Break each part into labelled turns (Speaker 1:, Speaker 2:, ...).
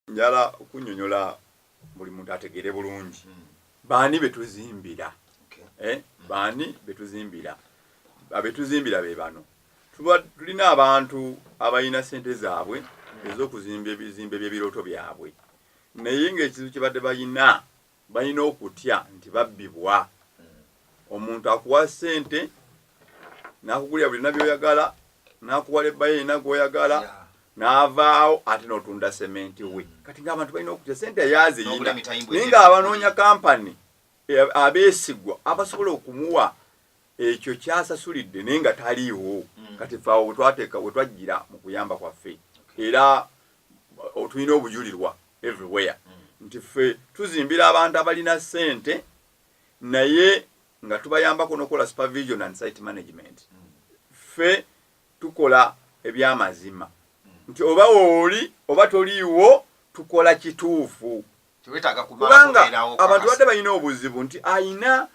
Speaker 1: njala okunyonyola buli muntu ategeere bulungi hmm. baani betuzimbira eh, baani betuzimbira abetuzimbira be bano tulina abantu abalina sente zaabwe ez'okuzimba ebizimbe by'ebirooto byabwe naye ng'ekizibu kye badde balina Balina okutya nti babbibwa. Omuntu akuwa sente nakugulira buli nabyoyagala nakuwa leba ye yena gwoyagala navaawo ate notunda sementi we mm. kati nga abantu balina okutya sente yaziyina naye nga abanonya kampani eh, abesigwa abasobola okumuwa ekyo kyasasulidde naye nga taliiwo mm. kati fe awo wetwateeka wetwajjira mu kuyamba kwaffe era otulina obujulirwa everywhere mm. nti ffe tuzimbira abantu abalina ssente naye nga tubayambako nokukola supervision and site management mm. ffe tukola ebyamazima nti oba wooli oba toliiwo tukola kituufu kubanga abantu badde balina obuzibu nti ayina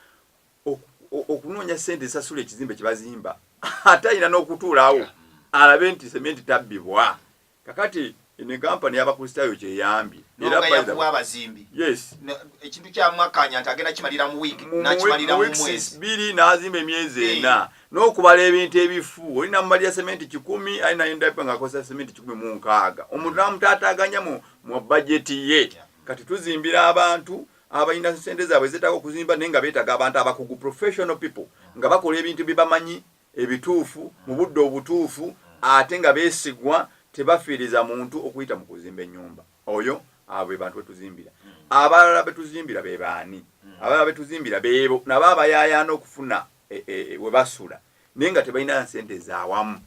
Speaker 1: okunoonya sente esasula ekizimbe kyebazimba ate ayina n'okutuulaawo alabe nti sementi tabbibwa kakati eno enkampani yabakristaayo
Speaker 2: kyeyambye biri n'azimba
Speaker 1: emyezi ena n'okubala ebintu ebifu oli namumalira sementi kikumi ali nayendapa ngaakozesa sementi kikumi mu nkaaga omuntu namutaataaganya mu bajeti ye kati tuzimbira abantu abalina sente zaabwe zetaaga okuzimba naye nga beetaga abantu abakugu professional people nga bakola ebintu byebamanyi ebituufu mu budde obutuufu ate nga beesigwa tebafiiriza muntu okuyita mu kuzimba ennyumba oyo abo be bantu betuzimbira abalala betuzimbira be baani abalala betuzimbira beebo nabo abayaayaana okufuna e, e, e, we basula naye nga tebalina nsente zaawamu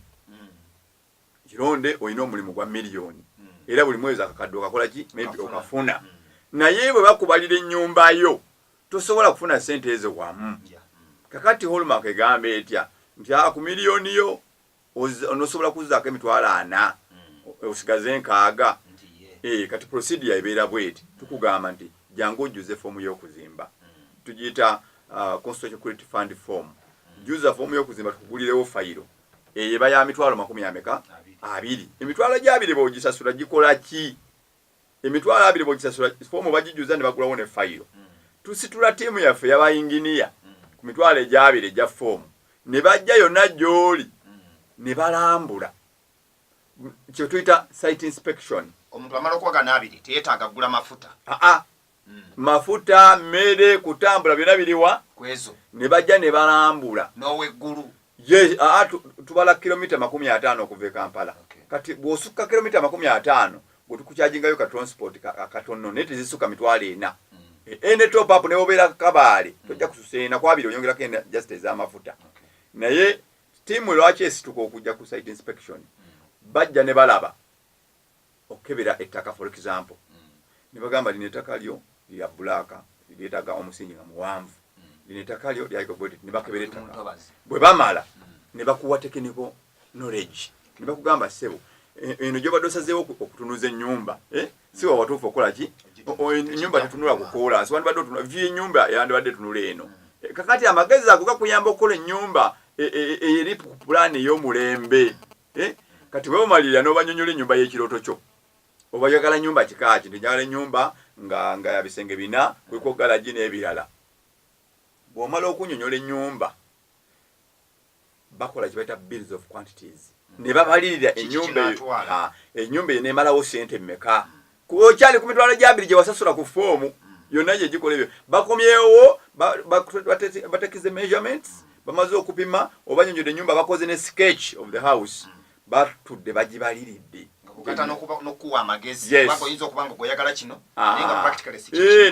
Speaker 1: kironde olina omulimu gwa miliyoni era buli mwezi akakadde okakola ki maybe okafuna mm. naye bwe bakubalira ennyumba yo tosobola kufuna sente ezo wamu mm. kakati holmark egamba etya nti ah, ku miliyoni yo onosobola kuzaako emitwalo ana mm. osigaze enkaaga eh, kati procedure ebeera bweti tukugamba nti jangu ojjuze foomu y'okuzimba tugiyita ah, constitution credit fund form jjuza foomu y'okuzimba tukugulirewo fayiro eyo eba ya mitwalo makumi ameka abiri emitwalo gyabiri bogisasula gikola ki emitwalo abiri bogisasula foomu bagijuza ne bagulawo ne fayiro hmm. tusitula tiimu yaffe yabayinginiya hmm. ku mitwalo egyabiri egya foomu ne bajja yonna gyoli hmm. ne balambula kyetuyita site inspection omuntu amala okuwaga
Speaker 2: nabiri teyetaaga gula mafuta aa ah, ah. mm. mafuta
Speaker 1: mmere kutambula byonna biriwa kwezo ne bajja
Speaker 2: ne
Speaker 1: balambula n'oweggulu
Speaker 2: ye aa
Speaker 1: tubala kilomita makumi ataano okuva e kampala okay. kati bw'osukka kilomita makumi ataano gwe tukukyajingayo ka transport akatonno naye tezisukka mitwalo ena mm. e, ene top up ne bobeera kabaale mm. tojja kususa ena kwabiri oyongerako ena just ez'amafuta okay. naye tiimu lwaki esituka okujja ku site inspection mm. bajja ne balaba okukebera ettaka for example nebagamba lino ettaka lyo lya black lyetaga omusingi nga muwanvu lino ettaka lyo lyaigogotit nebakebera ettaka bwe bamala nebakuwa tekiniko knowledge nebakugamba sebo e, eno gyobadde osazeewo okutunuza ennyumba eh? si wawatuufu okukola ki ennyumba tetunula kukoola nsi wandibadde otunula vyu ennyumba yandibadde tunula eno eh, kakati amagezi ago gakuyamba okukola ennyumba e, e, eri pulaani ey'omulembe eh? kati weomalirira nobanyonyola enyumba yekiroto kyo obayagala nyumba kikaki nti njagala enyumba nga nga yabisenge bina kuliko galagi n'ebirala bwomala okunyonyola enyumba bakola kibaita bills of quantities ne babalirira enyumba enyumba eyo nemalawo sente mmeka kuba okyali ku mitwalo gyabiri gye wasasula ku foomu yonna gye gikola ebyo bakomyewo batekize measurements bamaze okupima obanyonyodde enyumba bakoze ne sketch of the house batudde bagibaliridde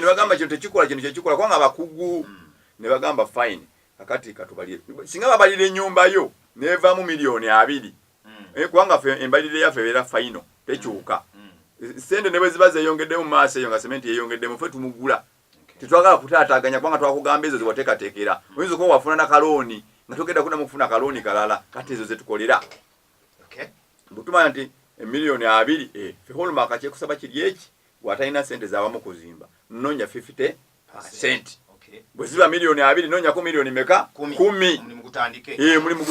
Speaker 1: nebagamba kino tekikola kino kyekikola kubanga abakugu hmm. nebagamba fine kakati katubalire singa babalira enyumba yo nevamu miliyoni abiri mm. eh, kubanga fe embalira yaffe ebeera faino tekyuka mm. mm. sente ne bwe ziba zeyongeddemu maaso eyo nga sementi yeyongeddemu fe tumugula tetwagala kutaataganya kubanga twakugamba ezo zewateekateekera oyinza okuba wafuna na kalooni nga togenda kudamu kufuna kalooni kalala kati ezo zetukolera butumanya nti emiliyoni eh, abiri eh, fe holmaka kyekusaba kiri eki gwatalina sente zawamu kuzimba nonya 50 sente bwe ziba miliyoni abiri nonyako miliyoni meka kumi mulimu gutandike eh, mulimu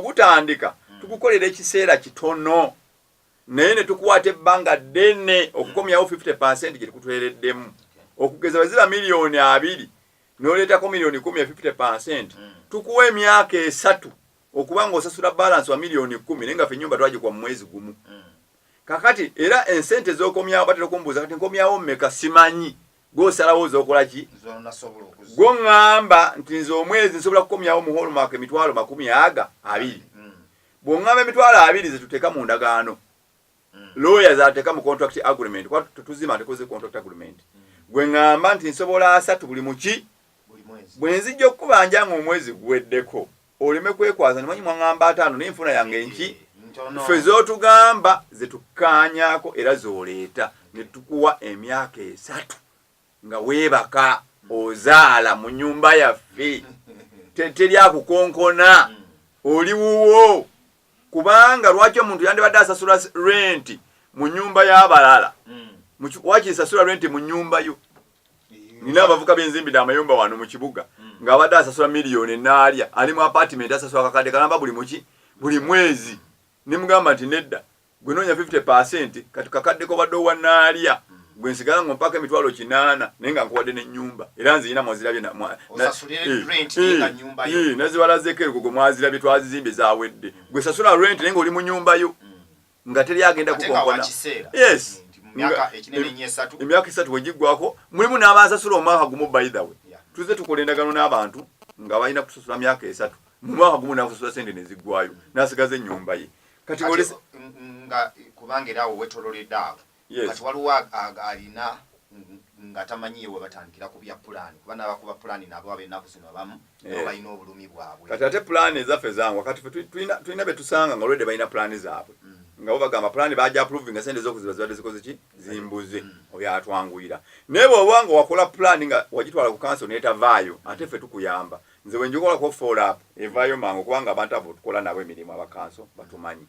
Speaker 1: gutandika hmm. tukukolera ekiseera kitono naye ne tukwata ebbanga ddene okukomyawo 50 pasenti gye tukutwereddemu okugeza bwe ziba miliyoni abiri noleetako miliyoni kumi ya 50 pasenti hmm. tukuwa emyaka esatu okuba nga osasula balance wa million kumi naye nga fe nyumba twagikwa mu mwezi gumu mm. kakati era ensente zokomyawo batera okumbuuza kati nkomyawo mmeka simanyi gwosalawo ozokola ki gwoŋŋamba nti nze omwezi nsobola kukomyawo mu holmark emitwalo makumi aga abiri mm. bwoŋŋamba emitwalo abiri zetuteeka mu ndagaano mm. looya zateeka mu contract agreement kuba tetuzima ntekoze contract agreement mm. gwe ŋŋamba nti nsobola asatu buli muki bwe nzijja okukubanja nga omwezi guweddeko oleme kwekwaza nimanyi mwangamba ataano naye enfuna yange eh, nki ffe zotugamba zetukanyako era zoleeta netukuwa emyaka esatu nga weebaka ozaala mu nyumba yaffe teri akukonkona hmm. oli wuwo kubanga lwaki omuntu yandibadde asasula renti mu nyumba y'abalala hmm. wakisasula renti mu nyumba yo nina abavuka benzimbide amayumba wano mu kibuga mm. ng'abadde asasula miliyoni enaalya ali mu apatimenti asasula kakadde kalamba buli muki buli mwezi nemugamba nti nedda gwe noonya 50 pasenti kati kakadde kobadde owa naalya mm. gwe nsigala nga mpaka emitwalo kinaana naye nga nkuwadde nenyumba era nziyina mwazirabye nazibalazeeko erugo gwe mwazirabye twazizimbe zawedde gwe sasula rent naye nga oli mu nyumba yo mm. nga teri agenda kukonkona yes emyaka esatu wegiggwako mulimu n'abansasula omwaka gumu by the way tuze tukola endagano n'abantu nga balina kusasula myaka esatu mu mwaka gumu nakusasula sente neziggwayo nasigaza ennyumba ye kati nga
Speaker 2: kubanga era awo wetololede awo Yes. Kati waliwo ag- ag- alina ng- nga tamanyi ye webatandikira ku bya pulaani kuba n'abakuba pulaani nabo ab'ennaku zino abamu nabo Eh. balina obulumi bwabwe kati ate pulaani ezaffe
Speaker 1: zangwa kati ffe tu- tulina tulina be tusanga nga olwedde balina pulaani zaabwe Mm. nga bo bagamba pulaani baja approvinga sente z'okuziba zibadde zikoze ki zimbuze Mm. oyo atwanguyira naye bw'oba nga wakola pulaani nga wagitwala ku kanso n'etavaayo ate ffe tukuyamba nze wenjikolako follow evaayo mangu kubanga abantu abo tukola nabo emirimu abakanso batumanyi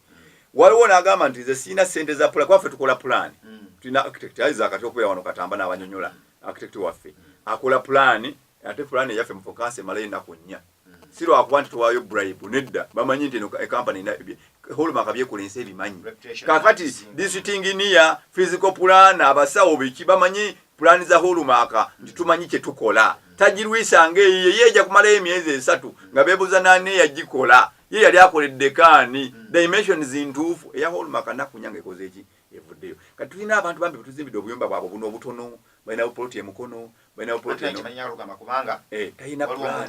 Speaker 1: waliwo nagamba nti nze sirina sente za pula kuba ffe tukola pulaani mm. tulina architect aiza kati okubeera wano katamba n'abanyonyola architect waffe akola pulaani ate pulaani eyaffe mufokansi emalayo ennaku nnya mm. si lwakuba nti tuwaayo bribe nedda bamanyi nti eno ekampani holmaka byekulensa ebimanyi kakati disitinginiya physical pulaana abasawo biki bamanyi Pulaani za Hulumaaka nti tumanyi kye tukola. Tagirwisa ng'eyo ye yeeja kumalayo emyezi esatu nga beebuuza n'ani eyagikola. Ye yali akoledde kaani? Hmm. Dimensions ntuufu eya Hulumaaka Nakunya ng'ekoze ki? Evuddeyo. Kati tulina abantu bambi betuzimbidde obuyumba bwabwe obuno obutono, balina bupoloti e Mukono, balina bupoloti eno.
Speaker 2: Talina pulaani.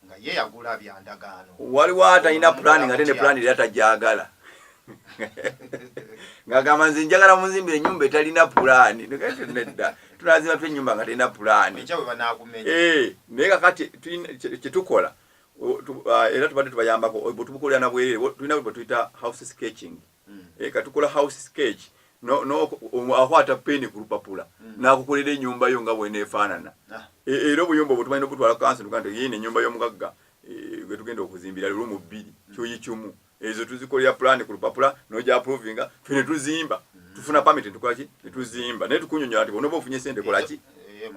Speaker 2: nga ye yagula bya ndagaano. Waliwo atalina
Speaker 1: pulaani ng'ate ne pulaani era tagyagala ng'agamba nze njagala munzimbira ennyumba etalina pulaani nedda tunazimba tu ennyumba nga talina pulaani eh, naye kakati kyetukola ah, era tubadde tubayambako bwetubukolera nabwerere tulina bwetuyita house sketching mm. eh, katukola house sketch no, no, um, akwata peni ku lupapula mm. nakukolera enyumba yo nga bwenefaanana ah. e, era obuyumba obwo tumanyi nokutwala kansi nuga nti yini enyumba y'omugagga e, gwetugenda okuzimbira lumu bbiri mm. kyoyi kimu ezo tuzikolera pulani ku lupapula noja aprovinga fe netuzimba mm. tufuna pamiti tukolaki netuzimba naye tukunyonyola nti bonoba ofunye sente kolaki eh,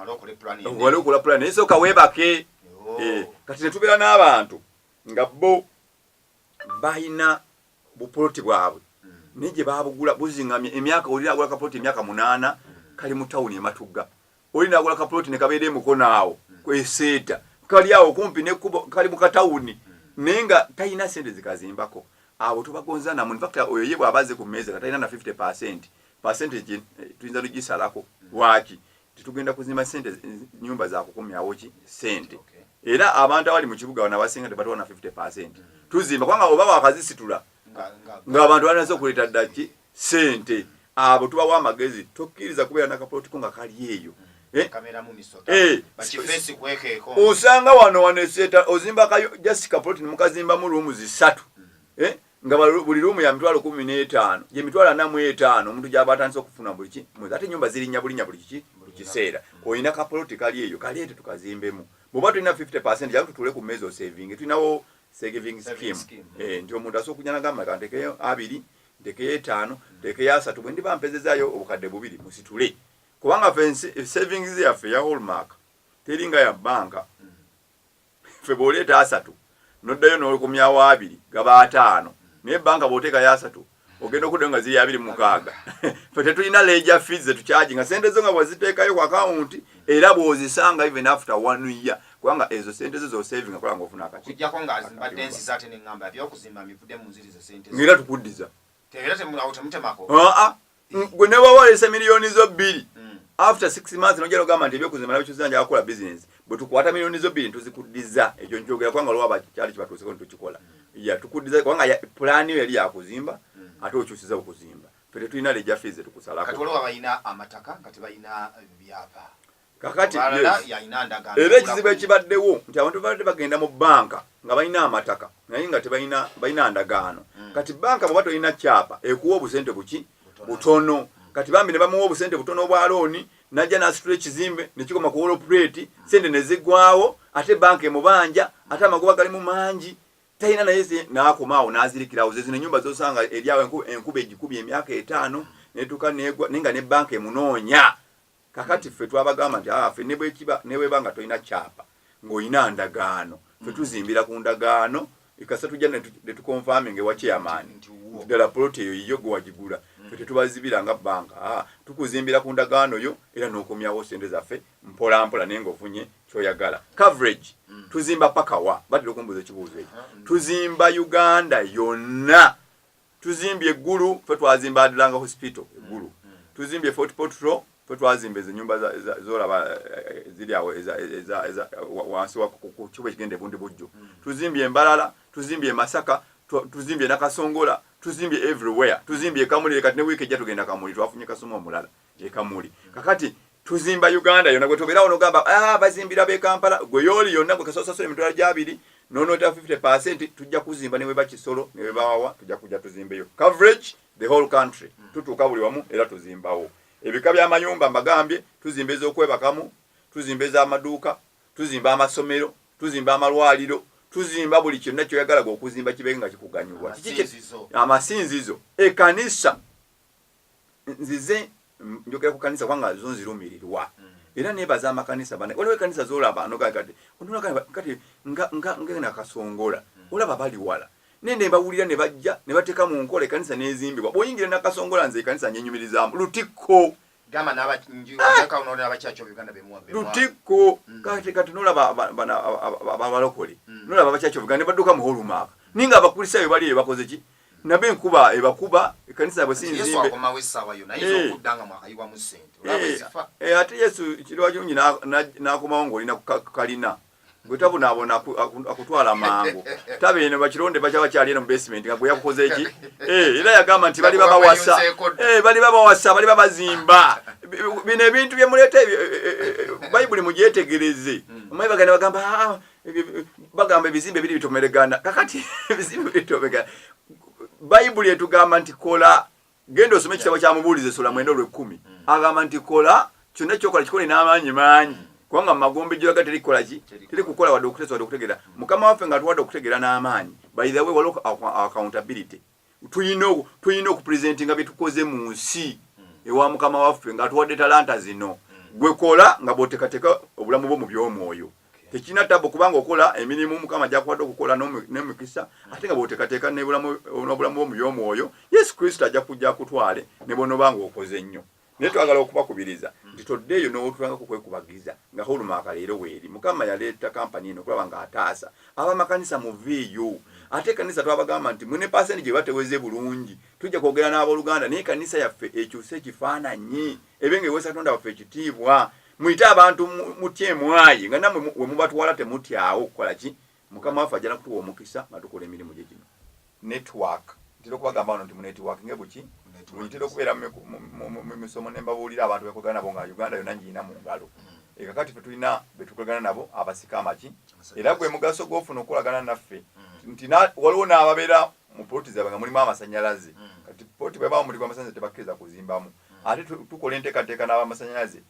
Speaker 1: eh, wali okola pulani naye soka webake oh. eh, kati netubeera n'abantu nga bo balina bupoloti bwabwe naye gye baabugula buzingamye emyaka oli naagula kapoloti emyaka munaana kali mu tawuni ematugga oli naagula kapoloti ne kabeera emukono awo kweseeta kali awo kumpi nekubo kali mu katawuni naye nga talina sente zikazimbako abo tobagonzanamu infact oyo ye bwaba aze ku meeza nga talina na 50 percent percentage eh, tuyinza tugisalako lwaki tetugenda kuzimba sente nyumba za kukomyawo ki sente era abantu abali mu kibuga bano abasinga tebatuwa na 50 percent tuzimba kubanga oba wakazisitula ng'abantu balinaza okuleeta ddaki sente abo tubawa amagezi tokkiriza kubeera nakapolitiko nga kali eyo eh? eh, osanga wano wano eseeta ozimba kayo just kapoliti nemukazimbamu ruumu zisatu hmm. eh? nga buli luumu ya mitwalo kumi n'etaano gye mitwalo ana mu etaano omuntu gy'aba atandise okufuna buli ki mwezi ate ennyumba zirinnya bulinnya buli kiki buli kiseera olina kapoloti kali eyo kaleete tukazimbemu bw'oba tulina 50 percent jamu tutuule ku mmeezi osevinge tulinawo saving scheme eh, nti omuntu asobola okujja nagamba ka ntekeyo abiri ntekeyo etaano ntekeyo asatu bwe ndiba mpezezayo obukadde bubiri musitule kubanga fe savings yaffe ya hallmark teringa ya banka ffe bwoleeta asatu noddayo nokumyawo abiri gaba ataano naye banka bwoteekayo asatu ogenda okuddayo nga ziri abiri mukaaga fe tetulina leja fees zetukyaji nga sente zo nga bwaziteekayo ku akawunti era bwozisanga even after one year kubanga ezo sente zo zosavinga kola nga ofuna
Speaker 2: akati era tukuddiza
Speaker 1: Tegera temu awo
Speaker 2: temutemako. Ah ah.
Speaker 1: Gwe ne baba walese milioni zo bbiri. Mm. After 6 months no jalo gamba ndebyo kuzimala bicho zanja akola business. Bwe tukwata milioni zo bbiri ntuzikuddiza. Ekyo njogera kwanga lwa bakyali kibatu seko ntukikola. Mm. Ya tukuddiza kwanga ya plan yo yali yakuzimba. Mm. Ate okyusiza okuzimba. Fete tulina leja fees tukusala. Katolo abayina
Speaker 2: amataka kati bayina byapa. kakati
Speaker 1: era ekizibu ekibaddewo nti abantu babadde bagenda mu banka nga balina amataka naye nga tebalina ndagaano hmm. kati banka bweba tolina kyapa ekuwa obusente buki butono kati bambi ne bamuwa obusente butono obwa looni najja n'asitula ekizimbe ne kikoma ku wolopuleeti sente ne zigwawo ate banka emubanja ate amagoba galimu mangi talina naye n'akomaawo n'azirikirawo ze zino ennyumba zosanga eryawo enkuba egikubye emyaka etaano netuuka negwa naye nga ne banka emunoonya kakati ffe twabagamba nti aa ah, ffe nebwekiba nebweba nga tolina kyapa ng'olina ndagaano ffe mm. tuzimbira ku ndagaano ekasa tujja netukonfaminga ewa chairman nti ddala poloti eyo yiyo gwe wagigula mm. ffe tetubazibira nga banka aa ah, tukuzimbira ku ndagaano yo era n'okomyawo sente zaffe mpolampola naye ngaofunye kyoyagala coverage mm. tuzimba pakawa batera okumbuuza ekibuuzo ekyo tuzimba uganda yonna tuzimbye eggulu fe twazimba adlanga hospital eggulu mm, mm. tuzimbye fort potro fe twazimba ezo nyumba zolaba eh, ziri awo wansi wakukibo ekigenda ebundi bujjo mm. tuzimbye embalala tuzimbye emasaka tuzimbye nakasongola tuzimbye everywhere tuzimbye ekamulire kati ne wiiki ejja tugenda kamuli twafunye kasoma omulala gyekamuli kakati tuzimba uganda yona gwetoberawo nogamba ah, bazimbira bekampala gwe yooli yonna gwekasasasula emitwalo gyabiri nonota 50 percent tujja kuzimba neweba kisolo newebawawa tujja kuja tuzimbeyo coverage the whole country hmm. tutuuka buli wamu era tuzimbawo ebika byamayumba mbagambye tuzimba ezokwebakamu tuzimba ezamaduuka tuzimba amasomero tuzimba amalwaliro tuzimba buli kyonna kyoyagalaga okuzimba kibenga kikuganyulwa amasinzizo ekanisa nzize njogera ku kanisa kubanga zo nzirumirirwa mm. era nebaza amakanisa bana waliwo ekanisa zolaba nogakati kati ngena kasongola mm. olaba bali wala naye nebawulira ne bajja ne bateeka mu nkola ekanisa nezimbibwa bwoyingira nakasongola nze ekanisa nyenyumirizamu lutikko
Speaker 2: lutikko mm.
Speaker 1: kati kati nolaba abalokole nolaba abakyaki obuganda ne badduka mu holumaaka ninga abakulisaayo bali eyo bakoze ki nabo enkuba ebakuba ekanisa yabwe sinzimbeate yesu kiriwa kirungi nakomawo ngaolina kukalina gwetabonaabona akutwala mangu tabe eno bakironde baja bakyali eno mubasement nga gweyakukoze ki eh, era yagamba nti bali babawasa eh, bali babawasa bali babazimba bino ebintu byemuleeta eh, bayibuli mugyetegereze hmm. omwebagana bagamba ah, bagamba ebizimbe biri bitomeregana kakati ebizimbe bitomeregana bayibuli etugamba nti kola genda osome ekitabo kya mubuulizi esula mwenda olwekkumi mm. agamba nti kola kyonna kyokola kikole n'amaanyi maanyi mm. kubanga mu magombe gyoyaga teri kukola ki teri kukola wadde okuteesa wadde okutegeera mm. mukama waffe nga atuwadde okutegeera n'amaanyi by the way waliwo accountability tulina tulina okupresentinga byetukoze mu nsi ewa mukama waffe nga atuwadde talanta zino gwe kola nga bwotekateka obulamu bwo mu by'omwoyo tekirina tabu kubanga okola emirimu mukama gyakuwadde okukola nemukisa ate nga bwotekateka n'obulamu bwo mu by'omwoyo yesu kristo ajja kujja kutwale ne bwonoba nga okoze nnyo naye twagala okubakubiriza nti toddeeyo n'owotulanga ku kwekubagiza nga hulumaaka leero weeri mukama yaleeta kampani eno okulaba nga ataasa abamakanisa muveeyo ate ekanisa twabagamba nti mune pasenti gye bateweze bulungi tujja kwogera n'abooluganda naye ekanisa yaffe ekyuse ekifaananyi ebe nga ewesa tonda waffe ekitiibwa muyite abantu mutya emwayi nga namwe wemubatwala temutyawo okukola ki Mukama waffe ajja nakutuwa omukisa nga tukola emirimu gye gino. Network ntera okubagamba wano nti munetiwakinge buki ntera okubeera mu misomo ne mbabuulira abantu bekolagana nabo nga uganda yonna ngirina mu ngalo mm. eka kati fe tulina betukolagana nabo abasika amaki era gwe mugaso gwofuna okukolagana naffe mm. nti waliwo n'ababeera mu poloti zaabwe nga mulimu amasannyalaze mm. kati poloti bwebaa mulimu amasannyalaze tebakkiriza kuzimbamu ate tukola enteekateeka n'abamasannyalaze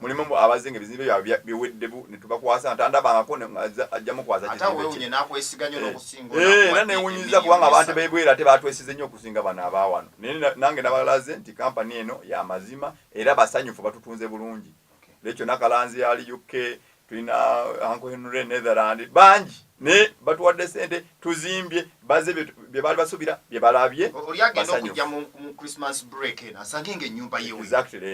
Speaker 1: Mulimu mbu abazze nga ebizimbe byabwe biwedde bu ne tubakwasa ntandabangako ajja mukwaza kizimbe kye. Eh, era newunyiza kubanga abantu bebweru ate batwesize nnyo okusinga bano abawano. Naye nange nabalaze nti kampani eno ya mazima era basanyufu batutunze bulungi. Leekyo nakalanzi ali UK tulina anko henry netherland bangi naye batuwadde sente tuzimbye baze bye baali basuubira bye balabye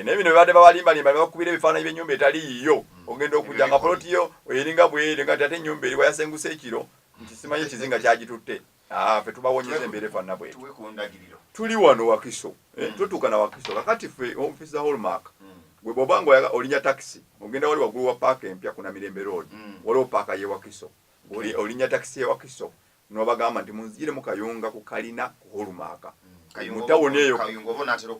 Speaker 2: naye bino bebadde
Speaker 1: bawalimbalimba ne bakubira ebifaananyi by'ennyumba etali yiyo hmm. ogenda okujja nga poloti yo eringa bweri nga ti ate ennyumba eri wayasenguse ekiro nti simanyi ekizinga kyagitutte Ah, fe tubawonyeza embeera efaanana bweti tuli wano wakiso eh, hmm. tutuuka na wakiso kakati fe office za hallmark hmm. gwe bwoba nga oyaga olinya takisi ogenda wali waggulu wa paaka empya kuna mirembe road hmm. waliwo paaka ye wakiso olinya takisi ye wakiso nobagamba nti munzijire mu kayunga ku kalina ku hallmark mutawuni eyo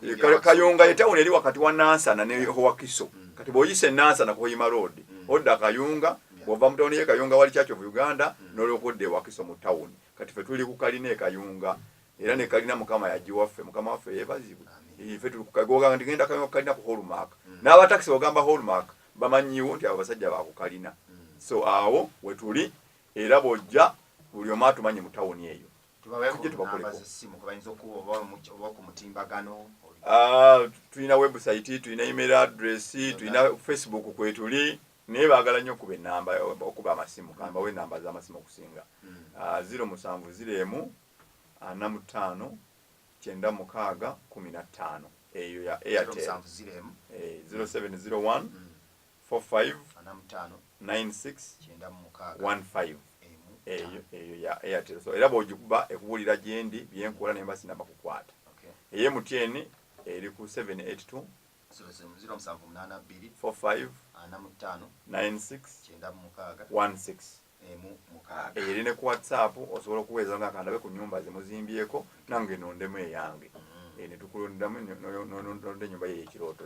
Speaker 1: eh, kayunga yetawuni eri wakati wa nansana ne wakiso kati bwoyise nansana ku hoima road odda kayunga bwova mu tawuni ye kayunga wali church of uganda mm. noloka odda ewakiso mu tawuni kati fe tuli ku kalina ekayunga era ne kalina mukama yagiwaffe mukama waffe yebazibwe fe tuli kukagoga ndi genda kayunga kalina ku hallmark mm. n'aba taxi ogamba hallmark bamanyiwo nti abo basajja ba ku kalina mm. so awo wetuli era bwojja buli omu atumanyi mu tawuni eyo tujje tubakoleko ah, tulina website tulina email address tulina facebook kwetuli naye bagala nyo okuba enamba okuba amasimu kambawo enamba zamasimu okusinga mm. ah, ziro musanvu ziro emu ana ah, mutaano kyenda mukaaga kumi na ttaano eyo ya airtel eh, ziro seven ziro one mm. four five nine six one five eyo eyo ya airtel so era bwogikuba ekubulira gyendi byenkola nemba sinaba kukwata eye mutn eri ku seven eight two eyo eri ne ku whatsapp osobola okuweeza nga kandabe ku nyumba zemuzimbyeko nange nondemu eyange mm. eh, netukulondamu nonda enyumba yeyo ekirooto